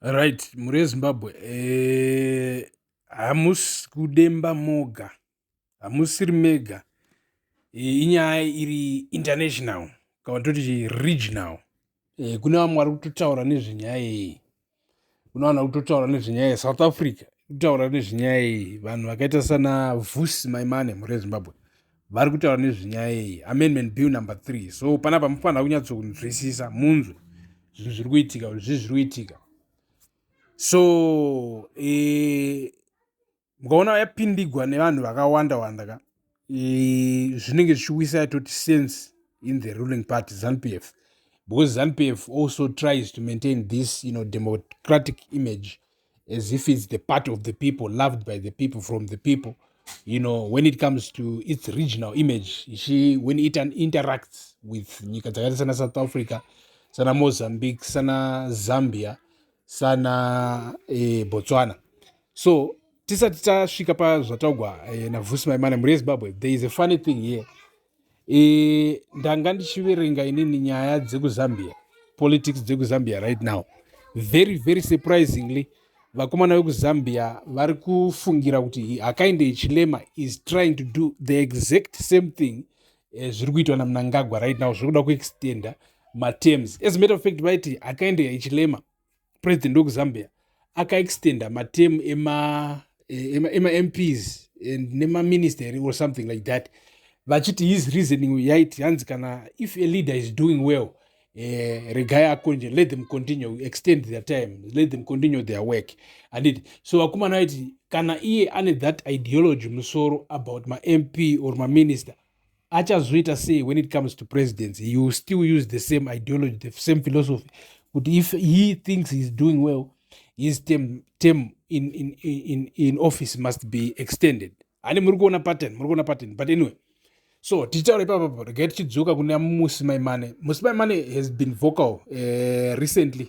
right mhuri yezimbabwe eh, hamusi e, kudemba moga hamusiri mega eh, inyaya iri international kana toti regional eh, kune vamwe vari kutotaura nezvenyaya iyi kune vanhu vari kutotaura nezvenyaya yesouth africa kutaura nezvenyaya iyi vanhu vakaita sana vusi maimane mhuri yezimbabwe vari kutaura nezvenyaya iyi amendment bill number three so panapa mufanira kunyatsokunzwisisa munzwe zvinhu zviri kuitika zvi zviri kuitika so e, mukaona yapindigwa nevanhu vakawanda wanda ka e, zvinenge zvichiwisa yatoti sense in the ruling party zanp f because zanp f also tries to maintain this you know, democratic image as if it's the part of the people loved by the people from the people you know when it comes to its regional image she when it interacts with nyika dzakaita sana south africa sana mozambique sana zambia sana eh, botswana so tisati tasvika pazvataugwa eh, navhusi maimane mhuri yezimbabwe there is a funny thing here e, ndanga ndichiverenga inini nyaya dzekuzambia politics dzekuzambia right now very very surprisingly vakomana vekuzambia vari kufungira kuti hakainde yechilema is trying to do the exact same thing eh, zviri kuitwa namunangagwa right now zviri kuda kuextenda matems as matter of fact vaiti hakainde yechilema president wekuzambia akaextenda matemu ema emamps e, and nemaministery or something like that vachiti his reasoning yaiti hanzi kana if a leader is doing well eh, regai akonje let them continue extend their time let them continue their work anditi so vakomana vaiti kana iye ane that ideology musoro about mamp or maminister achazviita sei when it comes to presidency he will still use the same ideology the same philosophy kuti if he thinks heis doing well his term, term in, in, in, in office must be extended hani muri kuona pattern muri kuona pattern but anyway so tichitaura ipapa regai tichidzoka kuna musi maimane musi maimane has been vocal uh, recently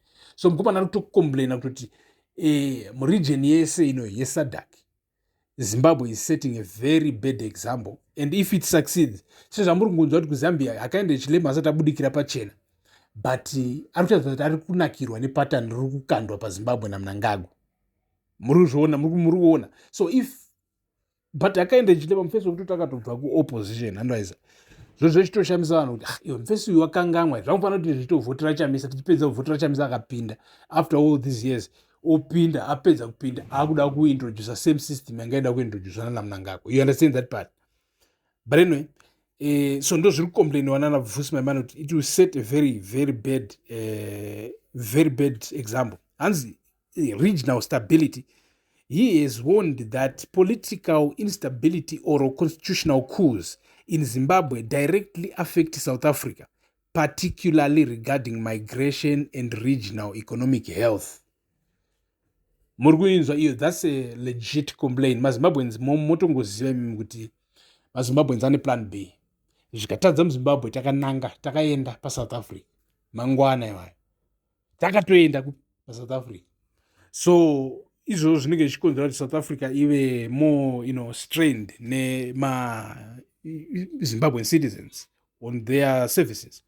so mukomana ari kutocomplaina kutoti eh, muregion yese ino yesadak zimbabwe is setting a very bad example and if it succeeds sezvamuri kungonzwa kuti kuzambia hakaenda chilema asati abudikira pachena but eh, ari kutaridza kuti ari kunakirwa nepatani riri kukandwa pazimbabwe namunangagwa muri kuzviona muri kuona so if but akaenda ichiita pamufesi wekuti takatobva kuopposition handoiza zvozvo ichitoshamisa vanhu kuti ah, iwe mufesi uyu wakangamwa zvamufanira kuti zvitovhotera chamisa tichipedza kuvhotera chamisa akapinda after all these years opinda apedza kupinda akuda kuintroducer same system yanga ida kuintroducer nana munangako you understand that part but anyway eh, so ndo zviri kucomplainiwa nana vusi maimana kuti it will set a very very bad eh, very bad example hanzi eh, regional stability he has warned that political instability or constitutional coups in zimbabwe directly affect south africa particularly regarding migration and regional economic health muri kuinzwa iyo thats a legit complain mazimbabweans motongoziva imimi kuti mazimbabweans ane plan b zvikatadza muzimbabwe takananga takaenda pasouth africa mangwana iwayo takatoenda pasouth africa so izvozvo zvinenge zvichikonzera kuti south africa ive more you know, strained nemazimbabwean citizens on their services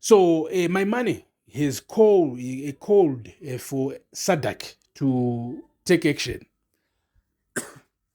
so uh, my money has called, uh, called uh, for sadak to take action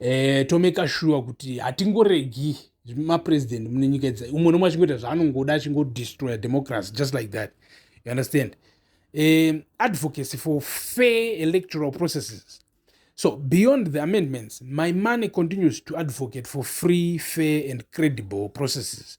eh, tomeka shuwa kuti hatingoregi mapresident mune nyika idzi umwe nomwe achingoita zvaanongoda achingodestroya democracy just like that you understand um, advocacy for fair electoral processes so beyond the amendments my money continues to advocate for free fair and credible processes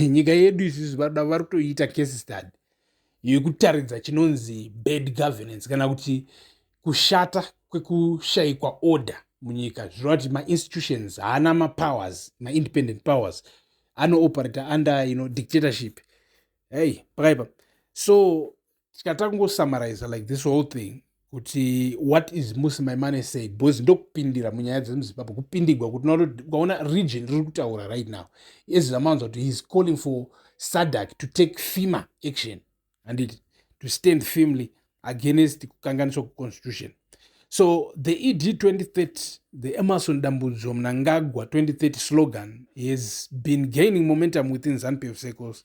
nyika yedu isusu vanoda vari kutoiita case study yekutaridza chinonzi bad governance kana kuti kushata kwekushayikwa order munyika zvireva kuti mainstitutions haana mapowers maindependent powers anooperator under you know dictatorship hei pakaipa so tikatanga kungosummariza like this whole thing kuti what is musi my money say because ndokupindira munyaya dzemuzimbabwe kupindigwa kuti ukaona region riri kutaura right now ezira mawanza kuti heis calling for sadak to take fima action handiti to stand firmly against kukanganiswa kweconstitution so the ed 2030 the emerson dambudzo mnangagwa 2030 slogan has been gaining momentum within zanupf circles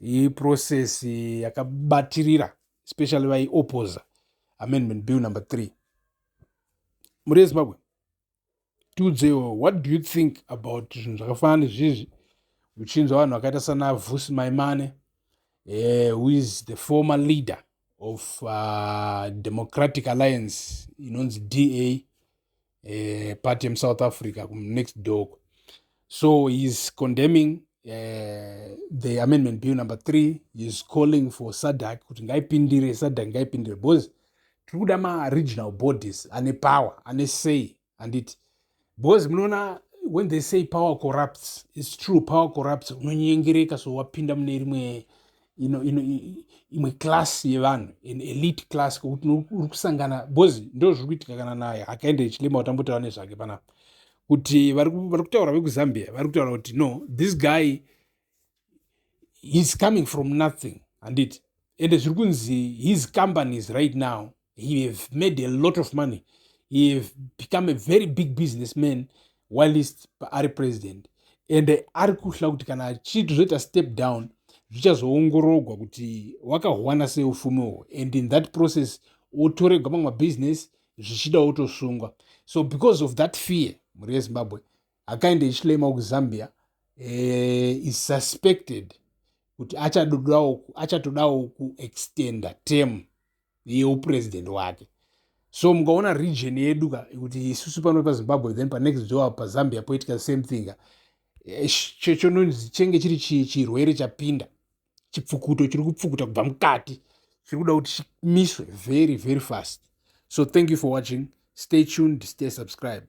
iprocess yakabatirira especially vaiopposer amendment bill number three mhuri yezimbabwe tiudzewo what do you think about zvinhu zvakafanana nezvizvi uchinzwa vanhu vakaita sana vusi maimane eh, who is the former leader of uh, democratic alliance inonzi da eh, party yemusouth africa next dog so heis condemning Eh, the amendment bill number three is calling for sadak kuti ngaipindire sadak ngaipindire because tiri kuda maregional bodies ane power ane say handiti because munoona when they say power corrupts its true power corrupts unonyengereka so wapinda mune rimwe ino ino imwe class yevanhu an elite class kokuti uri kusangana bcoz ndo zviri kuitika kana naye akaenda echilema utambotaura nezvake panapa kuti vari kutaura vekuzambia vari kutaura kuti no this guy heis coming from nothing handiti ende zviri kunzi his companies right now he have made a lot of money he have become a very big business man whilst ari president and ari kuhla kuti kana achiti zvoita step down zvichazoongorogwa kuti wakahwana sei ufumi uhwo and in that process otoregwa mamwe mabusiness zvichida otosungwa so because of that fear mhuri yezimbabwe akaenda ichilema kuzambia eh, is suspected kuti achatodawo kuextenda term yeupresident wake so mukaona region yedu ka kuti isusu pano pazimbabwe then panext door pazambia poitika same thing eh, chononzi chenge chiri chirwere chapinda chipfukuto chiri kupfukuta kubva mukati chiri kuda kuti chimiswe very very fast so thank you for watching stay tuned stay subscribed